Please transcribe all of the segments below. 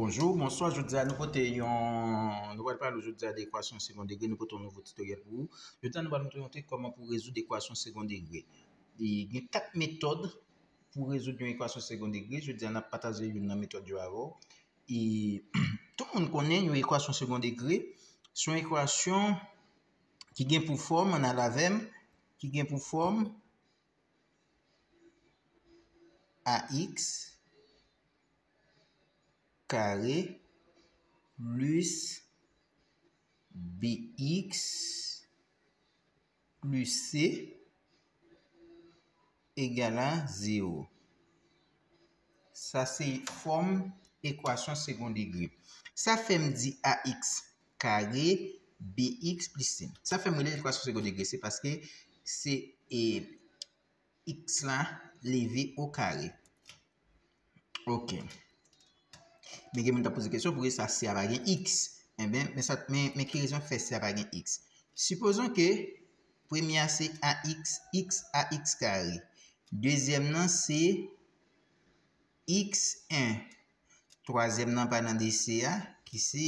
Bonjour, bonsoir, je di a nou pote yon Nou wèl pa lou je di a de ekwasyon segon degre Nou pote yon nouvo tutoriel pou ou Je di a nou wèl moutre yon te kòman pou rezoud ekwasyon segon degre Li gen 4 metòd pou rezoud yon ekwasyon segon degre Je di a nap pataje yon nan metòd yo avè ou E tout moun konnen yon ekwasyon second degre se yon ekwasyon ki gen pou fòm, ann al avè m, ki gen pou fòm ax kare plis bx Plis C egal a 0. Sa se fòm ekwasyon segon degre. Sa fè m di ax kare bx plis c. Sa fè m rele l ekwasyon segon degre se paske se x la leve o kare. Ok. Men gen moun ta poze kesyon pouki sa si a pa gen x. E ben, men ki rezon ki fè si a pa gen x. Sipozon ke premye a se ax, x ax kare. Dezyèm nan se x 1. Twazyèm nan pa nan desi a ki se.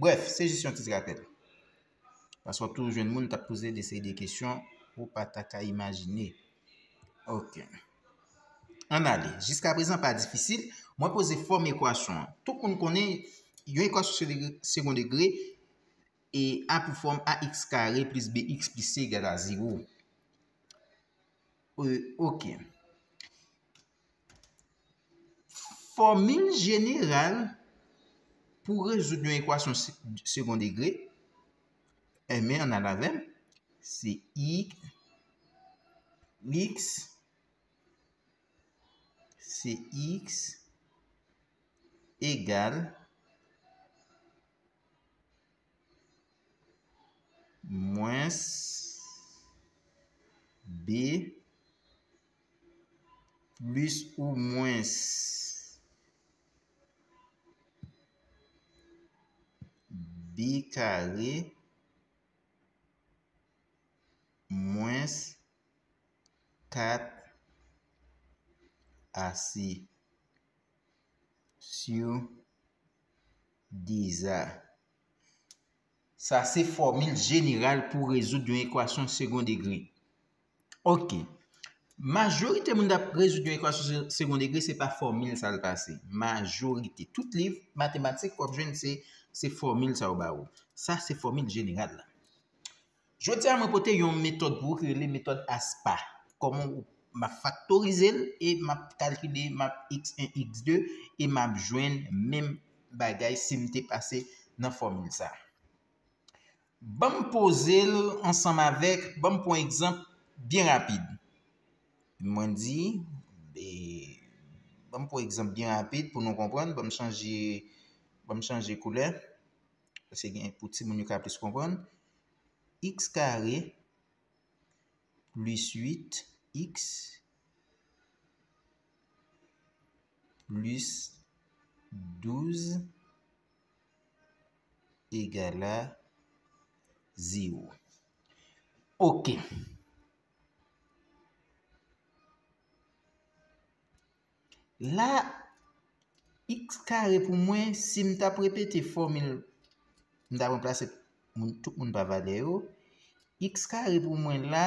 Brèf, se jis yon ti rapèl. Paske wap toujou jwenn moun kap poze de seri de kesyon ou pa ta ka imajine. Ok. Ann ale. Jiska prezan pa difisil, mwen poze fòm ekwasyon an. Tout moun konnen yon ekwasyon second degre e a pou fòm ax kare plis bx plis c egal a 0. Ok. Fòmil jeneral pou rezoud yon ekwasyon second degre, men an al avèm, se yx egal mwens b. Plis ou mwens, bi kare, mwens, kat, ase. Syo, deza. Sa se fòmil jeneral pou rezoud yon ekwasyon segond degre. Ok. Majorite moun dap rezoud yon ekwasyon segond degre se pa fòmil sa l pase. Majorite. Tout liv matematik wap jwenn se se fòmil sa yo ba ou. Sa se fòmil jeneral la. Jodi a mwen pote yon metòd pou ou ki rele metòd aspa. Kòman ou map faktorize l e map kalkile map x1 x2 e map jwenn menm bagay si m te pase nan fòmil sa. Ban m poze l ansanm avèk, ban m pran yon egzanp byen rapid. Mwen di, ban m pran egzanp byen rapid pou nou konprann, ban m chanje, ban m chanje koulè, se gen pou timoun yo ka plis konprann, x kare plis 8 x plis 12 egal a 0. Ok. La, x kare pou mwen, si m ta prepete fòmil, m ta remplase tout moun pa valè yo, x kare pou mwen la,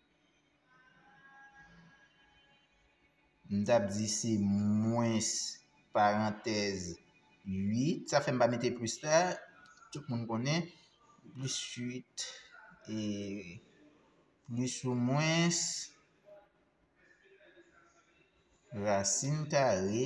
M t ap di se mwens parantèz 8. Sa fè m pa mete plis la. Tout moun konnen. Plis 8 e plis ou mwens rasin kare.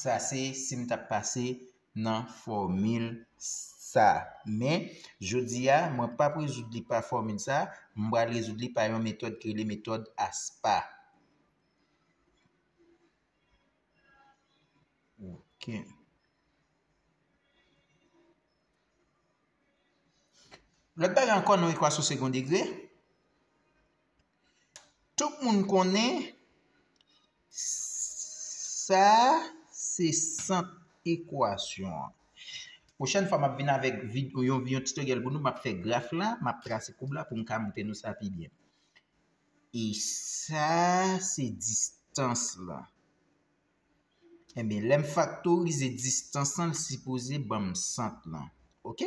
Sa se si m t ap pase nan fòmil sa. Men, jodi a, mwen p ap rezoud li pa fòmil sa, m pral rezoud li pa yon metòd ki rele metòd aspa. Lòt bagay ankò nan ekwasyon segonn degre. Tout moun konnen sa se sant ekwasyon an. Pwochèn fwa m ap vin avèk yon titoryèl pou nou, m ap fè graf la, m ap trase koub la pou m ka montre nou sa pi byen. E sa se distans la. Enben, lè m faktorize distans lan, l sipoze ban m sant lan. Ok?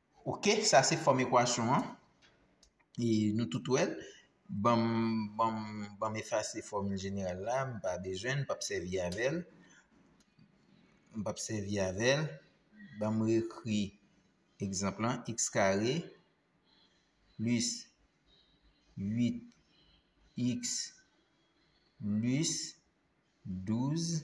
Ok sa se fòm ekwasyon an e nou tout wèl banm banm banm efase fòmil jeneral la m pa bezwen l m pap sèvi avèl m pap sèvi avèl banm rekri egzanp lan x kare plis 8 x plis 12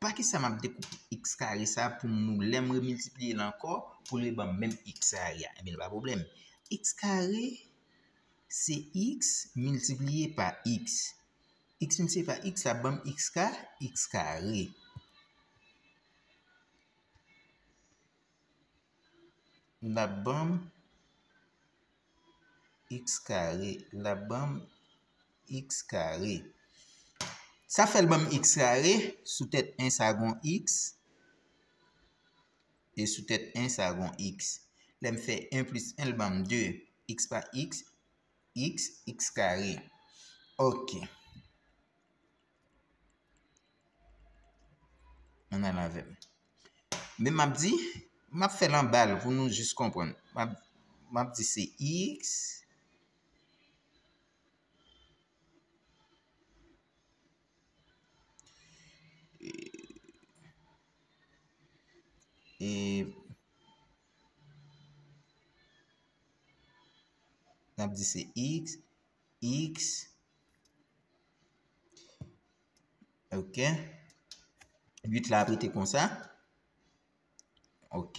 Pa kisa map dekoupe x kare sa pou nou lèm remiltipliye l ankò pou li banm menm x kare a ebyen l pa pwoblèm x kare se x miltipliye pa x x miltipliye pa x ap banm x ka x kare lap banm x kare lap banm X kare. Sa fè l ban m x kare, sou tèt 1 sa gon x, e sou tèt 1 sa gon x. Lè m fè 1 plis 1 l ban m 2. X pa x, x, x kare. Ok. Ann al avè m. Men m ap di, m ap fè l anba l pou nou jis konprann. M ap di se x. Nap di se x x Ok 8 la ap rete konsa Ok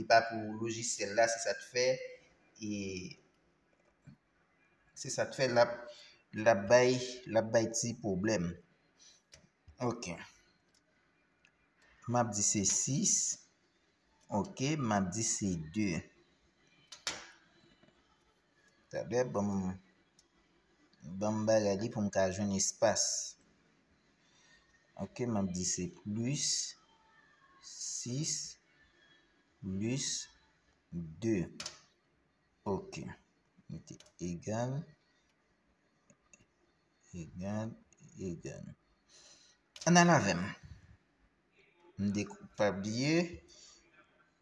e pa pou lojisyèl la se sa k fè e se sa k fè l ap l ap bay l ap bay ti pwoblèm ok m ap di se 6 ok m ap di se 2 Tabè banm banm bagay li pou m ka jwenn espas. Ok m ap di se plus 6 plus 2. Ok. Mete egal egal egal. An al avè m. M dekoupe pa bliye.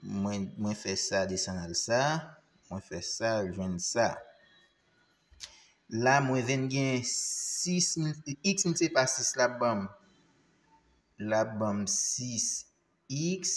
Mwen fè sa desan al sa. Mwen fè sa jwenn sa. La mwen ven gen 6. X mwen se pa 6 la banm. La banm 6. X.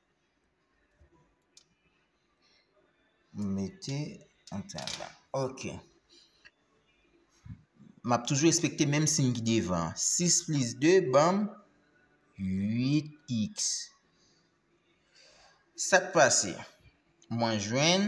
Mete anten la. Ok. M ap toujou respekte menm siy ki devan an. 6 plis 2 banm 8x. Sa k pase? Mwen jwenn.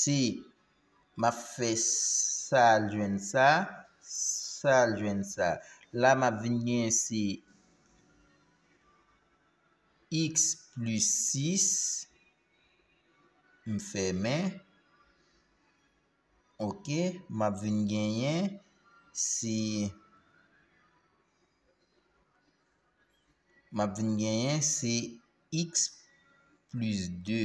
Si M ap fè sa l jwenn sa, sa l jwenn sa. La m ap vin gen se x plis 6, m fèmen, ok, m ap vin genyen se M ap vin genyen se x plis 2.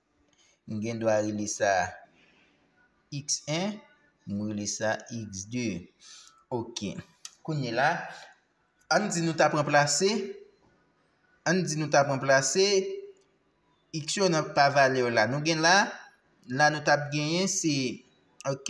M gen dwa rele sa x1, m rele sa x2. Ok. Kounye la, an n di nou t ap ranplase, an n di nou t ap ranplase x yo nan pa valè yo la. Nou gen la, la nou t ap genyen se, ok.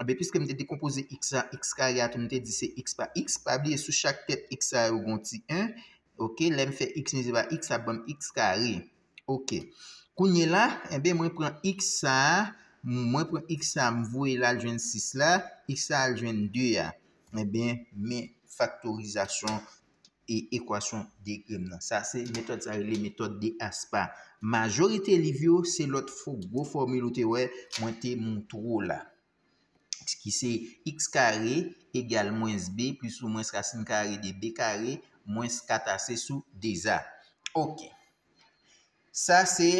Anben piske m te dekonpoze x la, x kare a tou m te di se x pa x. Pa bliye sou chak tèt x sa yo gen yon ti 1. Ok, lè m fè x mize pa x, l ap ban m x kare. Ok, kounyela, enben mwen pran x sa a, mwen pran x sa a m voye l al jwenn 6 la, x la al jwenn 2 a. Enben men faktorizasyon e ekwasyon degre m nan. Sa se metòd sa rele metòd de Aspa. Majorite liv yo se lòt fo gwo fòmil ou te wè mwen te montre w la. Ki se x kare egal mwens b plis ou mwens rasin kare de b kare mwens 4ac sou 2a. Ok. Sa se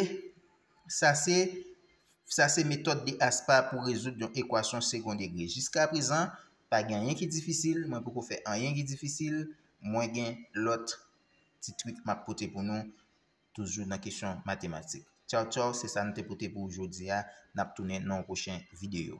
Sa se Sa se metòd de Aspa pou rezoud yon ekwasyon sekon degre. Jiskaprezan, pa gen anyen ki difisil, mwen poko fè anyen ki difisil, mwen gen lòt ti trik m ap pote pou nou toujou nan kesyon matematik. Tchaw tchaw, se sa nou te pote pou ou jodi a, n ap tounen nan yon pwochen videyo.